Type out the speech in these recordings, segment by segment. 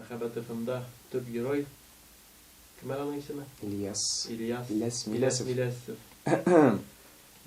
Мәхәббәт ФМда төп герой кем әле аның исеме? Ильяс. Ильяс. Иләс Миләсов. Иләс Миләсов.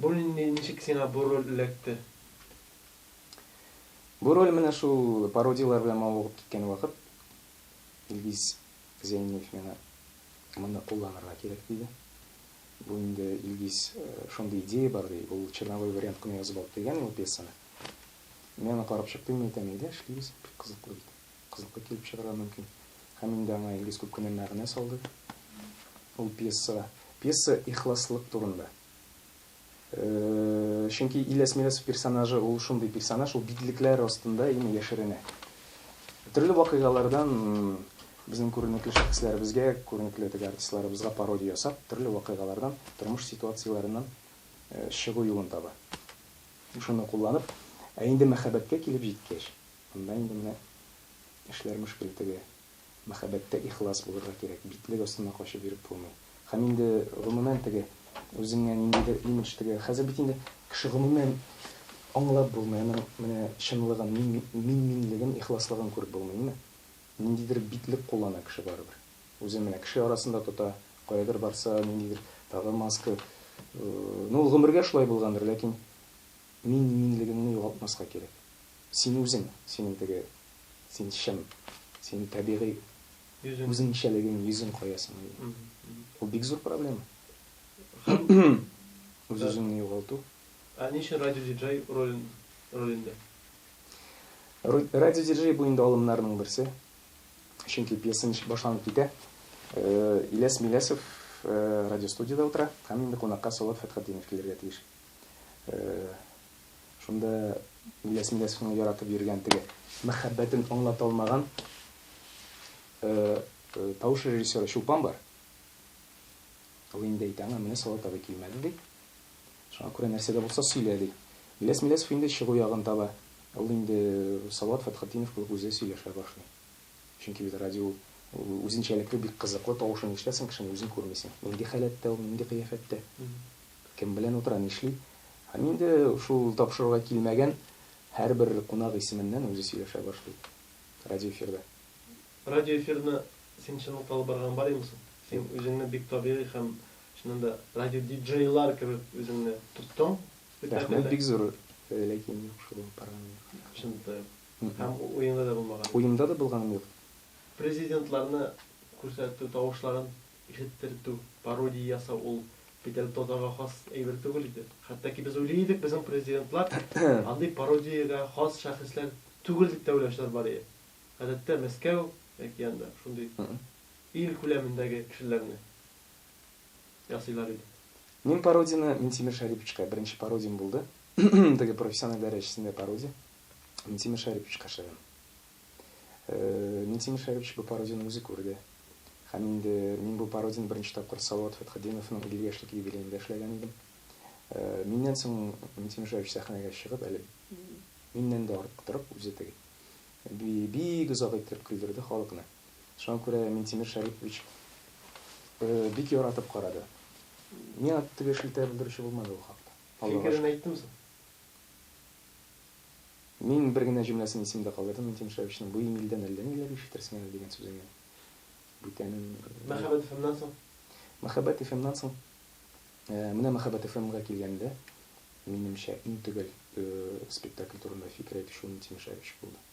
Бу нинди, ничек сиңа бу роль эләкте? Бу роль менә шул пародияләр белән мавыгып киткән вакыт Илгиз Зәйниев миңа моны кулланырга кирәк диде. Бу инде Илгиз шундый идея бар ди, ул черновой вариант кына язып алып килгән ул пьесаны. Мин аны карап чыктым, мин әйтәм, әйдә эшлибез, бик кызыклы бит. Кызыклы килеп чыгарга мөмкин. Һәм инде аңа Илгиз күп кенә мәгънә салды ул пьесага. Пьеса ихласлык турында. Чөнки Ильяс Мирасов персонажы ул шундый персонаж, ул битлекләр астында именно яшеренә. Төрле вакыйгалардан безнең күренекле шәхесләребезгә, күренекле теге артистларыбызга пародия ясап, төрле вакыйгалардан, тормыш ситуацияләреннән чыгу юлын таба. Шуны кулланып, ә инде мәхәббәткә килеп җиткәч, анда инде менә эшләр мөшкел теге. Мәхәббәттә ихлас булырга кирәк, битлек астына качып йөреп булмый. Һәм инде, гомумән, теге үзеңә ниндидер имидж теге, хәзер бит инде кеше гомумән аңлап булмый, аның менә чынлыгын, мин-минлеген, ихласлыгын күреп булмый, әйеме? Ниндидер битлек куллана кеше барыбер. Үзен менә кеше арасында тота, каядыр барса, ниндидер тагы маска. Ну, ул гомергә шулай булгандыр, ләкин мин минлегеңне югалтмаска кирәк. Син үзең, синең теге, син чын, синең табигый үзеңчәлегең, йөзең кая соң минем? Ул бик зур проблема. Үз-үзеңне югалту. Ә ни өчен радиодиджей ролен, ролендә? Радиодиджей бу инде алымнарның берсе. Чөнки пьеса ничек башланып китә, Иләс Миләсов радиостудиядә утыра һәм инде кунакка Салават Фәтхетдинов килергә тиеш. Шунда Иләс Миләсовның яратып йөргән теге мәхәббәтен аңлата алмаган тавыш режиссеры Чулпан бар. Ул инде әйтә аңа, менә Салават абый килмәде, ди. Шуңа күрә нәрсә дә булса сөйлә, ди. Миләс Миләсов инде чыгу ягын таба. Ул инде Салават Фәтхетдинов кебек үзе сөйләшә башлый. Чөнки бит радио ул, ул үзенчәлекле, бик кызыклы, тавышын ишетәсең кешенең, үзен күрмисең. Нинди халәттә ул, нинди кыяфәттә, кем белән утыра, нишли. Һәм инде шул тапшыруга килмәгән һәрбер кунак исеменнән үзе сөйләшә башлый радиоэфирда. Радиоэфирны син чынлыкта алып барган бар имсың? Син Юк. үзеңне бик табигый һәм Чыннан да радиодиджейлар кебек үзеңне тоттың. Рәхмәт, бик зур ләкин юк шул алып барганым юк. Чыннан да юк. Һәм уеңда да булмаган. Уемда да булганым юк. Президентларны күрсәтү, тавышларын ишеттертү, пародия ясау ул бит әле татарга хас әйбер түгел иде. Хәтта ки без уйлый идек, безнең президентлар андый пародиягә хас шәхесләр түгел дип тә уйлаучылар бар иде. Гадәттә Мәскәү яки анда шундый ил күләмендәге кешеләрне ясыйлар иде. Мин пародияне Минтимер Шәриповичка беренче пародиям булды. Теге профессиональ дәрәҗәсендә пародия. Минтимер Шәриповичка эшләдем. Минтимер Шәрипович бу пародияне үзе күрде. Һәм инде мин бу пародияне беренче тапкыр Салават Фәтхетдиновның 50 яшьлек юбилеенда эшләгән идем. Миннән соң Минтимер Шәрипович сәхнәгә чыгып, әле миннән дә артык торып, үзе теге бик озак иттереп көлдерде халыкны. Шуңа күрә Минтимер Шәрипович бик яратып карады. Миңа теге шелтә белдерүче булмады ул хакта. Фикерен әйттеме соң? Мин бер генә җөмләсен исемдә калдырдым, Минтимер Шәриповичның, Бу Имилдән әллә ниләр ишетерсең әле, дигән сүзенә бүтәнен. Мәхәббәт FM-нан соң? Мәхәббәт FM-нан соң, менә Мәхәббәт FM-га килгәндә, минемчә, иң төгәл спектакль турында фикер әйтүче ул Минтимер Шәрипович булды.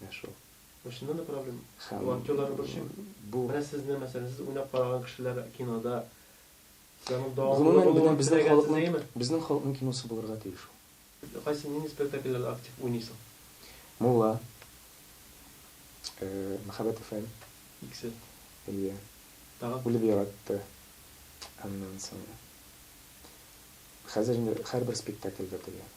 Менә шул. Чыннан да проблем. Бу актерларны борчыймы? Бу. Менә сезне, мәсәлән, сез уйнап караган кешеләр кинода сез аның дәвамында булуын теләгәнсезме? Безнең халыкның киносы булырга тиеш ул. Кайсы, нинди спектакльләрдә актив уйныйсың? Мулла. Мәхәббәт FM. Икесе. Әйе. Тагын? Үлеп яратты. Аннан соң. Хәзер инде һәрбер спектакльдә диярлек.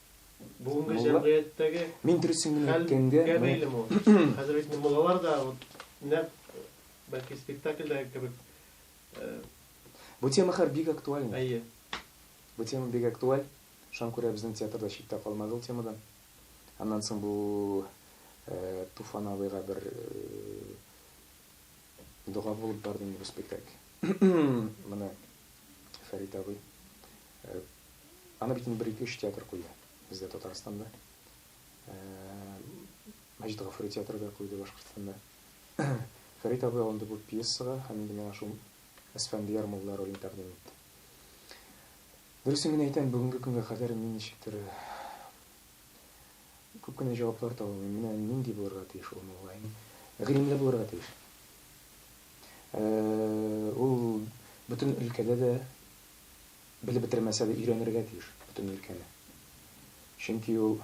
Бүгенге җәмгыятьтәге хәлгә бәйлеме ул? Хәзер бит инде муллалар да нәкъ бәлки спектакльдәге кебек. Бу тема хәзер бик актуальный. Әйе. Бу тема бик актуаль. Шуңа күрә безнең театр да читтә калмады ул темадан. Аннан соң бу Туфан абыйга бер дога булып барды инде бу спектакль. Моны Фәрит абый Аны бит инде бер-ике-өч театр куя бездә Татарстанда. Мәҗит Гафури театры да куйды Башкортстанда. Фәрит абый алынды бу пьесага һәм инде миңа шул Әсфәндияр мулла ролен тәкъдим итте. Дөресен генә әйтәм, бүгенге көнгә кадәр мин ничектер күп кенә җаваплар таба алмыйм. Менә нинди булырга тиеш ул мулла? Гыйлемле булырга тиеш. Ул бөтен өлкәдә дә Белеп бетермәсә дә, өйрәнергә тиеш бөтен өлкәне. Чөнки ул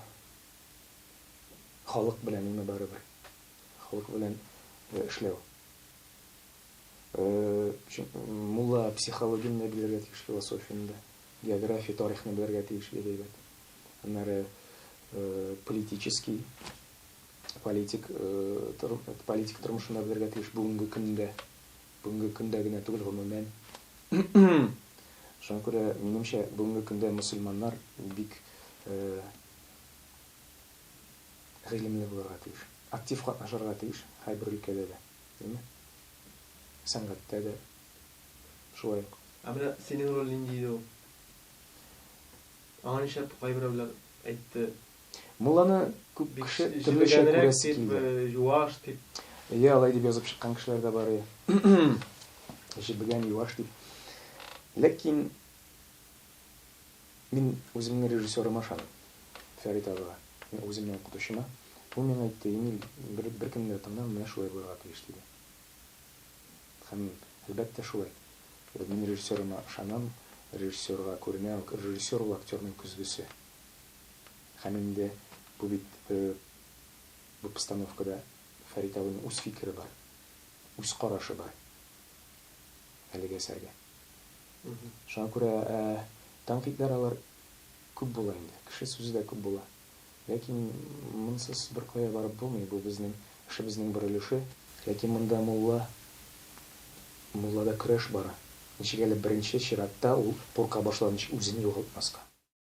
халык белән име барыбер. Халык белән эшләү. Мулла психологияне дә белергә тиеш, философияне дә. География, тарихны белергә тиеш бик әйбәт. Аннары политический, политик политика тормышын да белергә тиеш бүгенге көндә. Бүгенге көндә генә түгел, гомумән. Шуңа күрә, минемчә, бүгенге көндә мөселманнар бик гыйлемле булырга тиеш. Актив катнашырга тиеш һәрбер өлкәдә дә, дими? Сәнгатьтә дә шулай ук. Ә менә синең роль нинди иде ул? Аңа нишләп кайберәүләр әйтте, Мулланы күп кеше төрлечә күрәсе килде. Бик җебегәнрәк дип, юаш дип. Әйе, алай дип язып чыккан кешеләр дә бар, әйе. Җебегән, юаш дип. Ләкин мин үземнең режиссерыма ышанам, Фәрит абыга, үземнең укытучыма. Ул миңа әйтте, Эмиль, беркемне дә тыңлама, менә шулай булырга тиеш, диде. Һәм мин, әлбәттә, шулай. Мин режиссерыма ышанам, режиссерга күренә, режиссер ул актерның көзгесе. Һәм инде бу бит бу постановкада Фәрит абыйның үз фикере бар, үз карашы бар әлеге әсәргә. Шуңа күрә тәнкыйтьләр алар күп була инде, кеше сүзе дә күп була. Ләкин монсыз беркая барып булмый, бу безнең эшебезнең бер өлеше. Ләкин монда мулла, муллада көрәш бара. Ничек әле беренче чиратта ул курка башлаган өчен үзен югалтмаска.